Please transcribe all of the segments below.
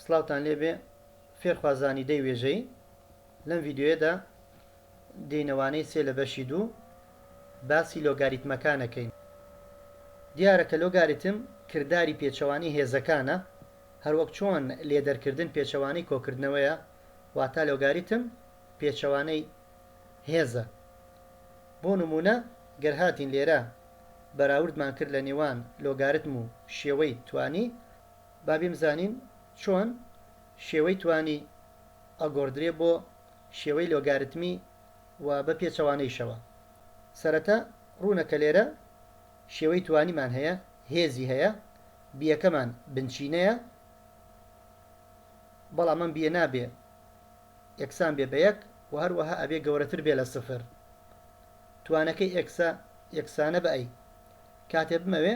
سڵاوتان لێبێ فێرخوازانی دەی وێژەیی لەم ڤیدیۆیەدا دێینە وانەی سێ لە بەشی دوو باسی لۆگاریتمەکان ئەکەین دیارە کە لۆگاریتم کرداری پێچەوانەی هێزەکانە هەروەک چۆن لێدەرکردن پێچەوانەی کۆکردنەوەیە واتا لۆگاریتم پێچەوانەی هێزە بۆ نموونە گەر هاتین لێرە بەراوردمان کرد لە نێوان لۆگارتم و شێوەی توانی با بیمزانین چۆن شێوەی توانی ئەگۆردرێ بۆ شێوەی لۆگارتمی و بە پێچەوانەیشەوە. سەرەتا ڕوونە کە لێرە شێوەی توانیمان هەیە، هێزی هەیە، بیەکەمان بنچینەیە، بەڵام ئەم بیە نابێ یەکسان بێ بە یەک و هەروەها ئەبێ گەورەتر بێ لە سفر. توانەکەی ئێکسە یەکسانە بە ئەی. کاتێ بمەوێ.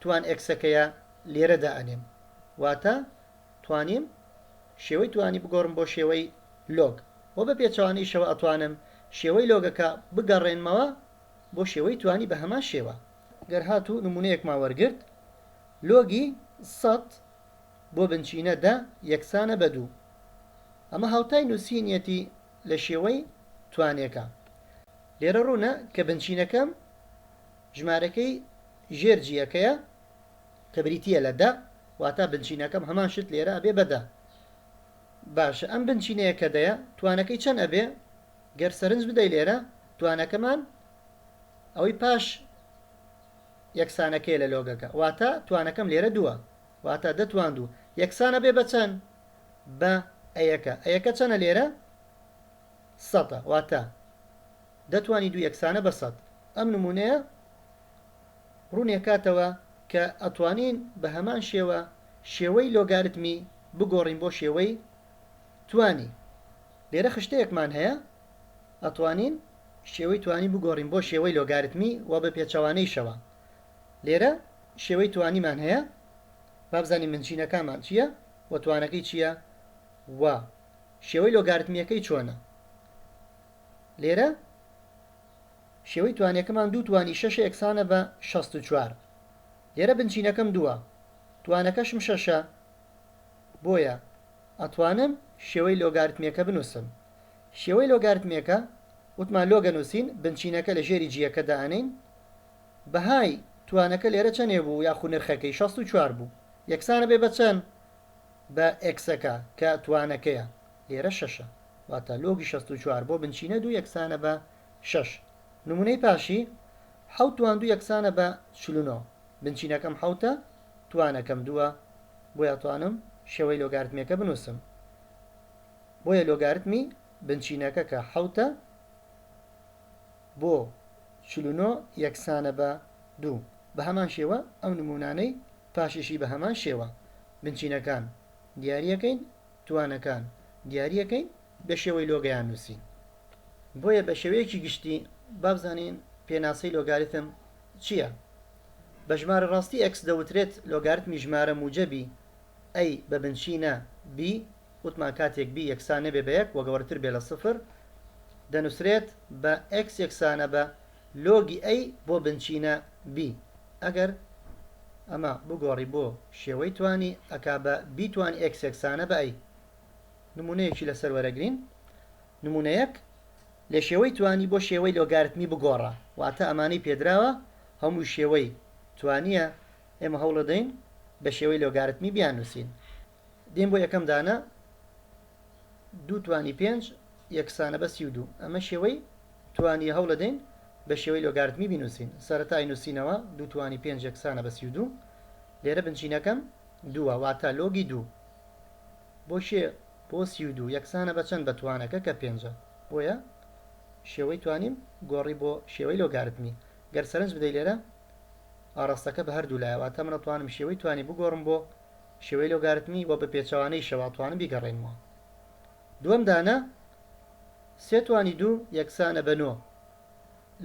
توان ئێکسەکەیە لێرە دائەنێم واتە توانیم شێوەی توانی بگۆڕم بۆ شێوەی لۆگ وە بە پێچەوانەیشەوە ئەتوانم شێوەی لۆگەکە بگەڕێنمەوە بۆ شێوەی توانی بە هەمان شێوە. گەر هاتوو نمونەیەکمان وەرگرت لۆگی سەد بۆ بنچینە دە یەکسانە بە دوو ئەمە هاوتای نوسینیەتی لە شێوەی توانێکە لێرە ڕوونە کە بنچینەکەم. ژمارەکەی ژێر جییەکەیە کە بریتییە لە دە واتا بنچینەکەم هەمان شت لێرە ئەبێ بە دە باشە ئەم بنچینەیە کە دەیە توانەکەی چەند ئەبێ گەر سەرنج بدەی لێرە توانەکەمان ئەوەی پاش یەکسانەکەی لە لۆگەکە واتا توانەکەم لێرە دووە واتا دەتوان دوو یەکسانە بێ بە چەند بە ئەیەکە ئەیەکە چەنە لێرە سەتە واتا دەتوانی دوو یەکسانە بە سەد. ئەم نموونەیە ڕوونیەکاتەوە کە ئەتوانین بە هەمان شێوە شێوەی لۆگارتمی بگۆڕین بۆ شێوەی توانی. لێرە خشتەیەکمان هەیە ئەتوانین شێوەی توانی بگۆڕین بۆ شێوەی لۆگارتمی و بە پێچەوانەیشەوە. لێرە شێوەی توانیمان هەیە بابزانین بنچینەکانمان چیە و توانەکەی چیە و شێوەی لۆگارتمیەکەی چۆنە. لێرە شێوەی توانەکەمان دوو توانی شەشە یەکسانە بە شەست و چوار لێرە بنچینەکەم دووە توانەکەشم شەشە بۆیە ئەتوانم شێوەی لۆگارتمێکە بنووسم شێوەی لۆگارتمێکە وتمان لۆگە نووسین بنچینەکە لە ژێری جیەکە دانین بەهای توانەکە لێرە چەنێ بوو یاخو نرخەکەی شەست و چوار بوو یەکسانە بێ بە چەند بە ئێکسەکە کە توانەکەیە لێرە شەشە، واتە لۆگی شەست و چوار بۆ بنچینە دوو یەکسانە بە شەش. نموونەی پاشی، حەوت توان دوو یەکسانە بە چل و نۆ، بنچینەکەم حەوتە، توانەکەم دووە، بۆیە ئەتوانم شێوەی لۆگارتمییەکە بنووسم. بۆیە لۆگارتمی بنچینەکە کە حەوتە بۆ چل و نۆ یەکسانە بە دوو. بە هەمان شێوە ئەو نموونانەی پاشیشی بە هەمان شێوە بنچینەکان دیارییەکەین توانەکان دیاری ئەکەین بە شێوەی لۆگەیان نووسین بۆیە بە شێوەیەکی گشتی با بزانین پێناسەی لۆگاریتم چیە بە ژمارە ڕاستی ئێکس دەوترێت لۆگارتمی ژمارە موجەبی ئەی بە بنچینە بی وتمان کاتێک بی یەکسان نەبێ بە یەک وە گەورەتر بێ لە سفر دەنووسرێت بە ئێکس یەکسانە بە لۆگی ئەی بۆ بنچینە بی ئەگەر ئەمە بگۆڕی بۆ شێوەی توانی ئەکا بە بی توانی ئێکس یەکسانە بە ئەی نمونەیەکی لەسەر وەرەگرین نمونەیەک لە شێوەی توانی بۆ شێوەی لۆگارتمی بگۆڕە واتە ئەمانەی پێدراوە هەمووی شێوەی توانیە ئێمە هەوڵەدەین بە شێوەی لۆگارتمی بیاننوسین دێین بۆ یەکەم دانە، دوو توانی پێنج یەکسانە بە سی و دوو. ئەمە شێوەی توانییە، هەوڵەدەین بە شێوەی لۆگارتمی بینووسین. سەرەتا ئەینووسینەوە، دوو توانی پێنج یەکسانە بە سی و دوو. لێرە بنچینەکەم دووە، واتە لۆگی دوو بۆ کێ؟ بۆ سی و دوو یەکسانە بە چەند؟ بە توانەکە کە پێنجە. بۆیە شێوەی توانیم گۆڕی بۆ شێوەی لۆگارتمی. گەر سەرنج بدەی لێرە ئاڕاستەکە بە هەردوو لایە، واتە منەتوانم شێوەی توانی بگۆڕم بۆ. شێوەی لۆگارتمی و بە پێچەوانەیشەوە توانم بیگەڕێنمەوە. دووەم دانە، سێ توانی دوو یەکسانە بە نۆ.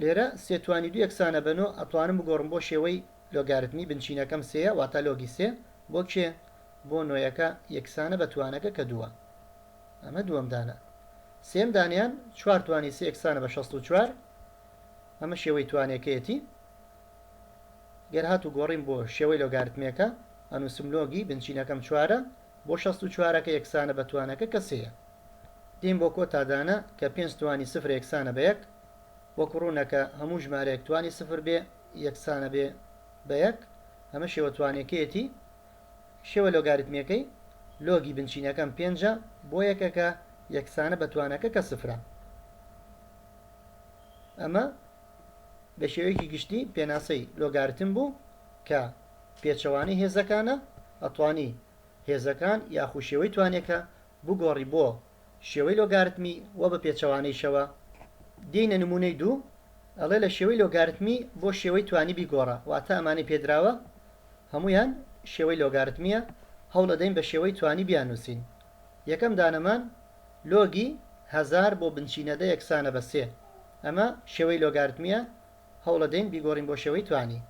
لێرە سێ توانی دوو یەکسانە بە نۆ ئەتوانم بگۆڕم بۆ شێوەی لۆگارتمی، بنچینەکەم سێیە واتە لۆگی سێ بۆ کێ؟ بۆ نۆیەکە یەکسانە بە توانەکە کە دووە. ئەمە دووەم دانە. سێیەم دانەیان، چوار توانی سێ یەکسانە بە شەست و چوار. ئەمە شێوەی توانەکەیەتی. گەر هاتوو گۆڕیم بۆ شێوەی لۆگارتمێکە، ئەنووسم لۆگی بنچینەکەم چوارە، بۆ شەست و چوارەکە یەکسانە بە توانەکە کە سێیە. دێین بۆ کۆتا دانە کە پێنج توانی سفر یەکسانە بە یەک. وەکو ڕوونە کە هەموو ژمارەیەک توانی سفر بێ یەکسانە بێ بە یەک. ئەمە شێوە توانەکەیەتی. شێوە لۆگاریتمیەکەی، لۆگی بنچینەکەم پێنجە بۆ یەکەکە یەکسانە بە توانەکە کە سفرە. ئەمە. بە شێوەیەکی گشتی پێناسەی لۆگارتم بوو کە پێچەوانەی هێزەکانە، ئەتوانی هێزەکان یاخو شێوەی توانێکە بگۆڕی بۆ شێوەی لۆگارتمی وە بە پێچەوانەیشەوە، دێینە نمونەی دوو ئەڵێ لە شێوەی لۆگارتمی بۆ شێوەی توانی بیگۆڕە واتە ئەمانەی پێدراوە هەموویان شێوەی لۆگارتمیە هەوڵەدەین بە شێوەی توانی بیاننوسین یەکەم دانەمان. لۆگی هەزار بۆ بنچینە دە یەکسانە بە سێ. ئەمە شێوەی لۆگارتمییە، هەوڵەدەین بیگۆڕین بۆ شێوەی توانی.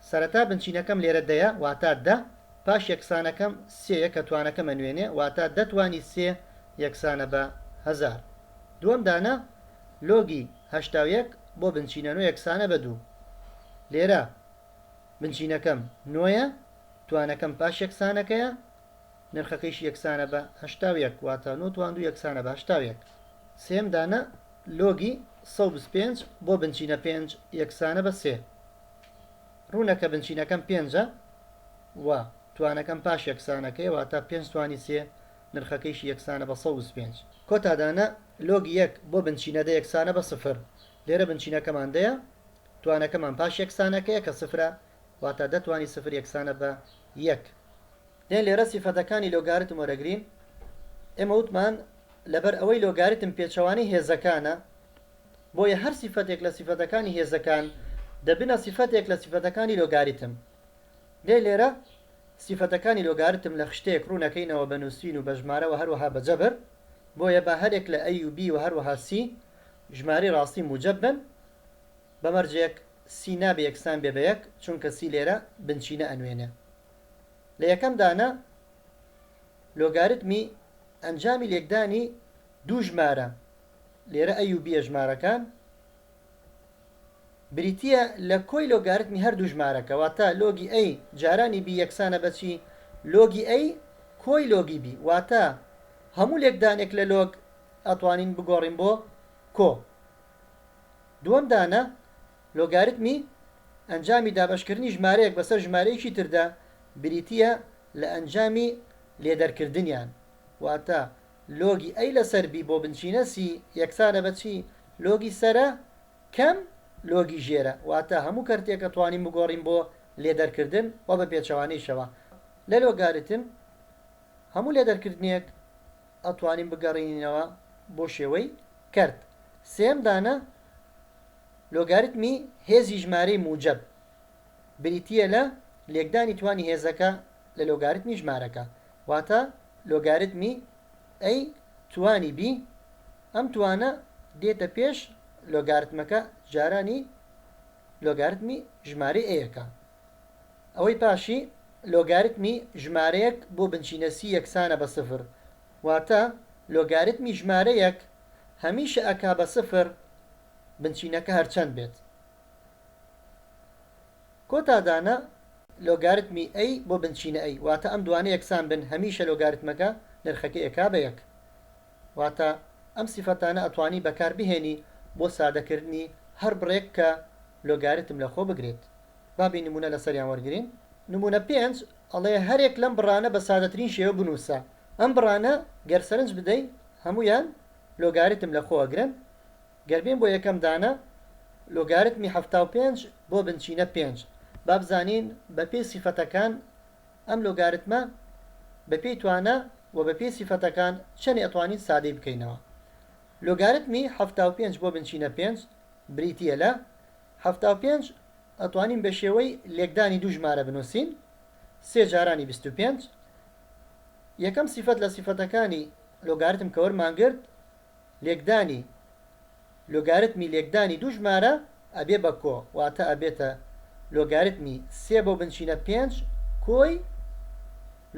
سەرەتا بنچینەکەم لێرە دەیە، واتا دە، پاش یەکسانەکەم سێیە کە توانەکەم ئەنوێنێ، واتا دە توانی سێ یەکسانە بە هەزار. دووەم دانە، لۆگی هەشتا و یەک بۆ بنچینە نۆ یەکسانە بە دوو. لێرە بنچینەکەم نۆیە، توانەکەم پاش یەکسانەکەیە، نرخەکەیشی یەکسانە بە هەشتا و یەک، واتە نۆ توان دوو یەکسانە بە هەشتا و یەک. سێیەم دانە، لۆگی سەد و بیست و پێنج بۆ بنچینە پێنج یەکسانە بە سێ. ڕوونە کە بنچینەکەم پێنجە و توانەکەم پاش یەکسانەکەیە، واتە پێنج توانی سێ، نرخەکەیشی یەکسانە بە سەد و بیست و پێنج. کۆتا دانە، لۆگی یەک بۆ بنچینە دە یەکسانە بە سفر. لێرە بنچینەکەمان دەیە، توانەکەمان پاش یەکسانەکەیە کە سفرە، واتا دە توانی سفر یەکسانە بە یەک. دەی لێرە سیفەتەکانی لۆگاریتم وەرەگرین، ئێمە وتمان لەبەر ئەوەی لۆگاریتم پێچەوانەی هێزەکانە، بۆیە هەر سیفەتێک لە سیفەتەکانی هێزەکان دەبنە سیفەتێک لە سیفەتەکانی لۆگاریتم. دەی لێرە سیفەتەکانی لۆگاریتم لە خشتەیەک ڕوون ئەکەینەوە بە نووسین و بە ژمارە و هەروەها بە جەبر، بۆیە با هەرێک لە A و B و هەروەها C ژمارەی ڕاستی موجەب بن، بە مەرجێک سی نابێ یەکسان بێ بە یەک چونکە سی لێرە بنچینە ئەنوێنێ لە یەکەم دانە لۆگاریتمی ئەنجامی لێکدانی دوو ژمارە لێرە ئەی و بییە ژمارەکان بریتییە لە کۆی لۆگاریتمی هەردوو ژمارەکە واتە لۆگی ئەی جارانی بی یەکسانە بە چی لۆگی ئەی کۆی لۆگی بی واتە هەموو لێکدانێک لە لۆگ ئەتوانین بگۆڕین بۆ کۆ دووەم دانە لۆگاریتمی ئەنجامی دابەشکردنی ژمارەیەک بەسەر ژمارەیەکی تردا بریتییە لە ئەنجامی لێدەرکردنیان، واتە لۆگی ئەی لەسەر بی بۆ بنچینە سی یەکسانە بە چی؟ لۆگی سەرە کەم لۆگی ژێرە، واتە هەموو کەرتێکە توانیم بگۆڕیم بۆ لێدەرکردن و بە پێچەوانەیشەوە لە لۆگاریتم هەموو لێدەرکردنێک ئەتوانین بگەڕێنینەوە بۆ شێوەی کەرت. سێیەم دانە، لۆگاریتمی هێزی ژمارەی موجەب بریتییە لە لێکدانی توانی هێزەکە لە لۆگاریتمی ژمارەکە. واتە لۆگاریتمی A توانی B. ئەم توانە دێتە پێش لۆگارتمەکە جارانی لۆگاریتمی ژمارەی A ەکە. ئەوەی پاشی لۆگاریتمی ژمارەیەک بۆ بنچینە سی یەکسانە بە سفر واتە لۆگاریتمی ژمارەیەک هەمیشە ئەکا بە سفر بنچینەکە هەرچەند بێت کۆتا دانە لۆگاریتمی ئەی بۆ بنچینە ئەی واتە ئەم دوانە یەکسان بن هەمیشە لۆگاریتمەکە نرخەکەی ئەکا بە یەک واتە ئەم سیفەتانە ئەتوانی بەکار بهێنی بۆ سادەکردنی هەر بڕێک کە لۆگاریتم لەخۆ بگرێت. با بێ نموونە لەسەریان وەرگرین. نموونە پێنج ئەڵێ، هەرێک لەم بڕانە بە سادەترین شێوە بنووسە. ئەم بڕانە گەر سەرنج بدەی هەموویان لۆگاریتم لە خۆ ئەگرن. گەر بێم بۆ یەکەم دانە، لۆگاریتمی حەفتا و پێنج بۆ بنچینە پێنج. با بزانین بە پێی سیفەتەکان ئەم لۆگاریتمە بە پێی توانا و بە پێی سیفەتەکان چەنێ ئەتوانین سادەی بکەینەوە. لۆگاریتمی حەفتا و پێنج بۆ بنچینە پێنج بریتییە لە حەفتا و پێنج، ئەتوانین بە شێوەی لێکدانی دوو ژمارە بنووسین، سێ جارانی بیست و پێنج. یەکەم سیفەت لە سیفەتەکانی لۆگاریتم کە وەرمانگرت، لێکدانی لۆگاریتمی لێکدانی دوو ژمارە ئەبێ بە کۆ، واتە ئەبێتە لۆگاریتمی سێ بۆ بنچینە پێنج کۆی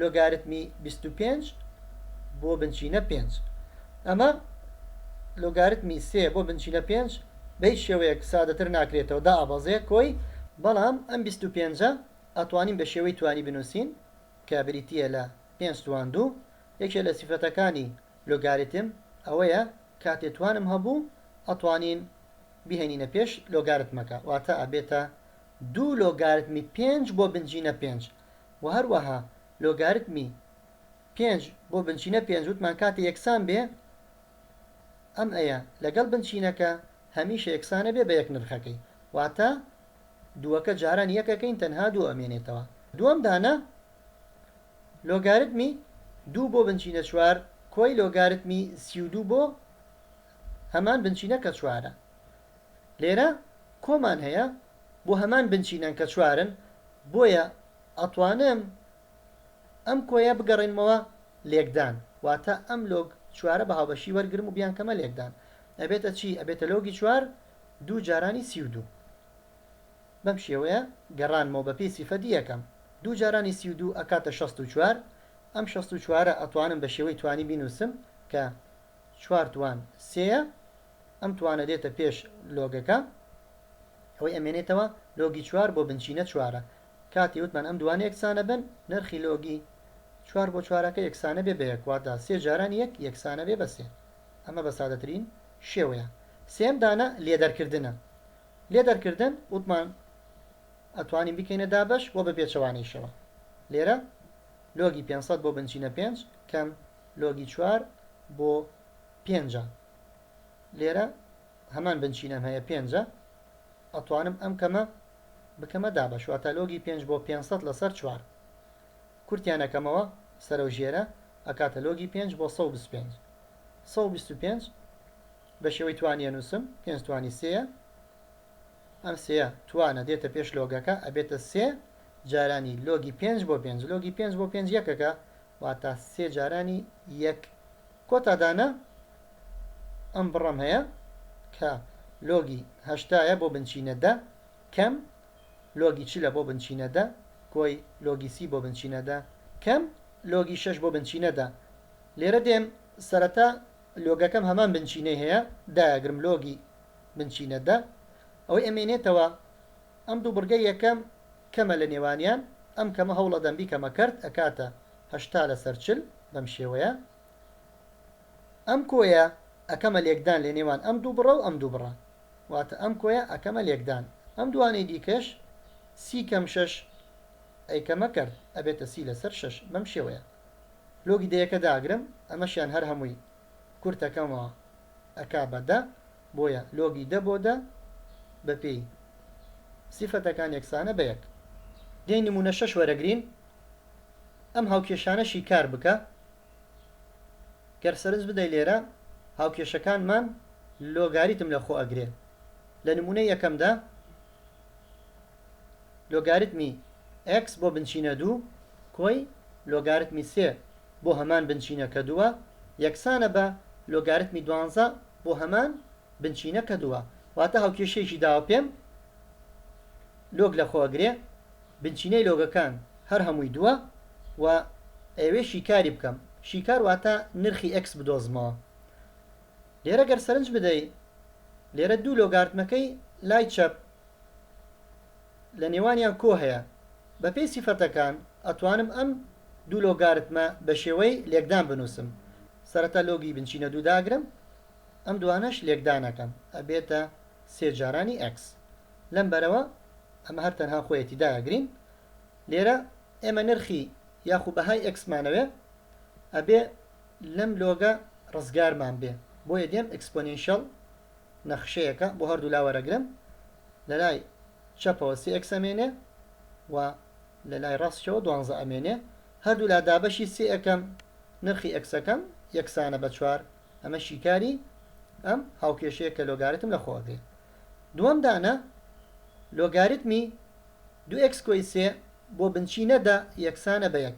لۆگاریتمی بیست و پێنج بۆ بنچینە پێنج. ئەمە لۆگاریتمی سێ بۆ بنچینە پێنج بە هیچ شێوەیەک سادەتر ناکرێتەوە، دائەبەزێ کۆی، بەڵام ئەم بیست و پێنجە ئەتوانین بە شێوەی توانی بنووسین کە بریتییە لە پێنج توان دوو، یەکێ لە سیفەتەکانی لۆگاریتم ئەوەیە کاتێ توانم هەبوو ئەتوانین بیهێنینە پێش لۆگارتمەکە، واتە ئەبێتە دوو لۆگاریتمی پێنج بۆ بنجینە پێنج. و هەروەها لۆگاریتمی پێنج بۆ بنچینە پێنج وتمان کاتێ یەکسان بێ ئەم ئەیە لەگەڵ بنچینەکە هەمیشە یەکسانە بێ بە یەک نرخەکەی واتە دووەکە جاران یەکەکەین تەنها دوو ئەمێنێتەوە دووەم دانە لۆگاریتمی دوو بۆ بنچینە چوار کۆی لۆگاریتمی سی و دوو بۆ هەمان بنچینە کە چوارە. لێرە کۆمان هەیە بۆ هەمان بنچینەن کە چوارن بۆیە ئەتوانم ئەم کۆیە بگەڕێنمەوە لێکدان واتە ئەم لۆگ چوارە بە هاوبەشی وەرگرم و بیانکەمە لێکدان ئەبێتە چی ئەبێتە لۆگی چوار دوو جارانی سی و دوو بەم شێوەیە گەڕانمەوە بە پێی سیفەتی یەکەم دوو جارانی سی و دوو ئەکاتە شەست و چوار ئەم شەست و چوارە ئەتوانم بە شێوەی توانی بینوسم کە چوار توان سێیە ئەم توانە دێتە پێش لۆگەکە ئەوەی ئەمێنێتەوە لۆگی چوار بۆ بنچینە چوارە کاتی وتمان ئەم دوانە یەکسانە بن نرخی لۆگی چوار بۆ چوارەکە یەکسانە بێ بە یەک واتا سێ جاران یەک یەکسانە بێ بە سێ ئەمە بە سادەترین شێوەیە سێیەم دانە لێدەرکردنە لێدەرکردن وتمان ئەتوانین بکەینە دابەش و بە پێچەوانەیشەوە لێرە لۆگی پێنج سەد بۆ بنچینە پێنج کەم لۆگی چوار بۆ پێنجە لێرە هەمان بنچینەم هەیە پێنجە ئەتوانم ئەم کەمە بکەمە دابەش واتە لۆگی پێنج بۆ پێنج سەد لەسەر چوار کورتیانەکەمەوە سەرە و ژێرە ئەکاتە لۆگی پێنج بۆ سەد و بیست و پێنج سەد و بیست و پێنج بە شێوەی توانیە نووسم پێنج توانی سێیە ئەم سێە توانە دێتە پێش لۆگەکە ئەبێتە سێ جارانی لۆگی پێنج بۆ پێنج لۆگی پێنج بۆ پێنج یەکەکە واتا سێ جارانی یەک. کۆتا دانە ئەم بڕەم هەیە کە لۆگی هەشتا یە بۆ بنچینە دە کەم لۆگی چلە بۆ بنچینە دە کۆی لۆگی سی بۆ بنچینە دە کەم لۆگی شەش بۆ بنچینە دە لێرە دێم سەرەتا لۆگەکەم هەمان بنچینەی هەیە دایەگرم لۆگی بنچینە دە ئەوەی ئەمێنێتەوە ئەم دوو بڕگە یەکەم کەمە لە نێوانیان، ئەم کەمە هەوڵ ئەدەم بیکەمە کەرت ئەکاتە هەشتا لەسەر چل بەم شێوەیە. ئەم کۆیە ئەکەمە لێکدان لە نێوان ئەم دوو بڕە و ئەم دوو بڕە. واتە ئەم کۆیە ئەکەمە لێکدان. ئەم دووانەی دیکەش سی کەم شەش ئەیکەمە کەرت ئەبێتە سی لەسەر شەش بەم شێوەیە. لۆگی دەیەکە داگرم ئەمەشیان هەر هەمووی کورت ئەکەمەوە. ئەکا بە دە بۆیە لۆگی دە بۆ دە بە پێی سیفەتەکان یەکسانە بە یەک. دەی نموونە شەش وەرەگرین ئەم هاوکێشانەشی کار بکە گەر سەرنج بدەی لێرە هاوکێشەکانمان لۆگاریتم لە خۆ ئەگرێ لە نموونەی یەکەمدا. لۆگاریتمی ئێکس بۆ بنچینە دوو کۆی لۆگاریتمی سێ بۆ هەمان بنچینە کە دووە یەکسانە بە لۆگاریتمی دوانزە بۆ هەمان بنچینە کە دووە واتە هاوکێشەیەکی داوە پێم لۆگ لەخۆ ئەگرێ بنچینەی لۆگەکان هەر هەمووی دووە و ئەیەوێ شیکاری بکەم شیکار واتە نرخی ئێکس بدۆزمەوە. لێرە گەر سەرنج بدەی لێرە دوو لۆگارتمەکەی لای چەپ لە نێوانیان کۆ هەیە بە پێی سیفەتەکان ئەتوانم ئەم دوو لۆگارتمە بە شێوەی لێکدان بنووسم سەرەتا لۆگی بنچینە دوو داگرم ئەم دوانەش لێکدان ئەکەم ئەبێتە سێ جارانی ئێکس لەم بەرەوە ئەمە هەر تەنها خۆیەتی دایەگرین لێرە ئێمە نرخی یاخو بەهای ئێکسمانەوێ ئەبێ لەم لۆگە ڕزگارمان بێ بۆیە دێم ئێکسپۆنێنشیەڵ نەخشەیەکە بۆ هەردوولا وەرەگرم لەلای چەپەوە سێ ئێکس ئەمێنێ و لەلای ڕاستیەوە دوانزە ئەمێنێ هەردوولا دابەشی سێ ئەکەم نرخی ئێکسەکەم یەکسانە بە چوار ئەمە شیکاری ئەم هاوکێشەیە کە لۆگاریتم لە خۆ ئەگرێ دووەم دانە لۆگاریتمی دوو ئێکس کۆی سێ بۆ بنچینە دە یەکسانە بە یەک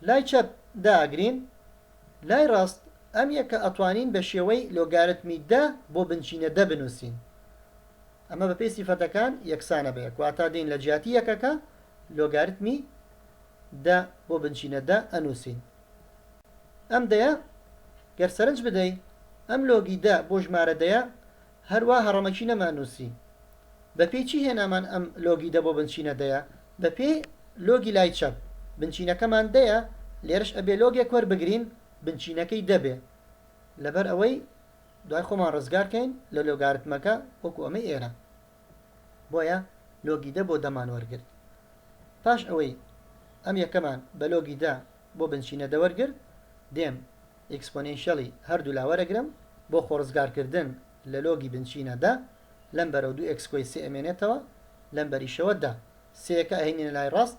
لای چەپ داگرین لای ڕاست ئەم یەکە ئەتوانین بە شێوەی لۆگارتمی دە بۆ بنچینە دە بنووسین ئەمە بەپێی سیفەتەکان یەکسانە بە یەک واتا دێین لە جیاتی یەکەکە لۆگارتمی دە بۆ بنچینە دە ئەنووسین ئەم دەیە گەر سەرنج بدەی ئەم لۆگی دە بۆ ژمارە دەیە هەر وا هەڕەمەکی نەمان نووسی. بە پێی چی هێنامان ئەم لۆگی دە بۆ بنچینە دەیە؟ بە پێی لۆگی لای چەپ. بنچینەکەمان دەیە، لێرەش ئەبێ لۆگێک وەربگرین بنچینەکەی دە بێ لەبەر ئەوەی دوای خۆمان ڕزگار کەین لە لۆگارتمەکە وەکوو ئەمەی ئێرە. بۆیە لۆگی دە بۆ دەمان وەرگرت. پاش ئەوەی ئەم یەکەمان بە لۆگی دە. بۆ بنچینە دەوەرگر دێم ئیکسپۆنێنشیەلی هەردوولا وەرەگرم بۆ خۆڕزگارکردن لە لۆگی بنچینە دە لەم بەرەو دوو ئێکس کۆی سێ ئەمێنێتەوە لەم بەریشەوە دە سێەکە ئەهێنینە لای ڕاست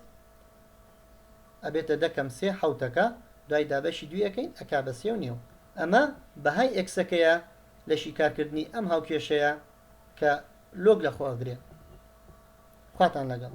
ئەبێتە دە کەم سێ حەوتەکە دوای دابەشی دووی ئەکەین ئەکا بە سێ و نیو ئەمە بەهای ئێکسەکەیە لە شیکارکردنی ئەم هاوکێشەیە کە لۆگ لە خۆ ئەگرێ خواتان لەگەڵ.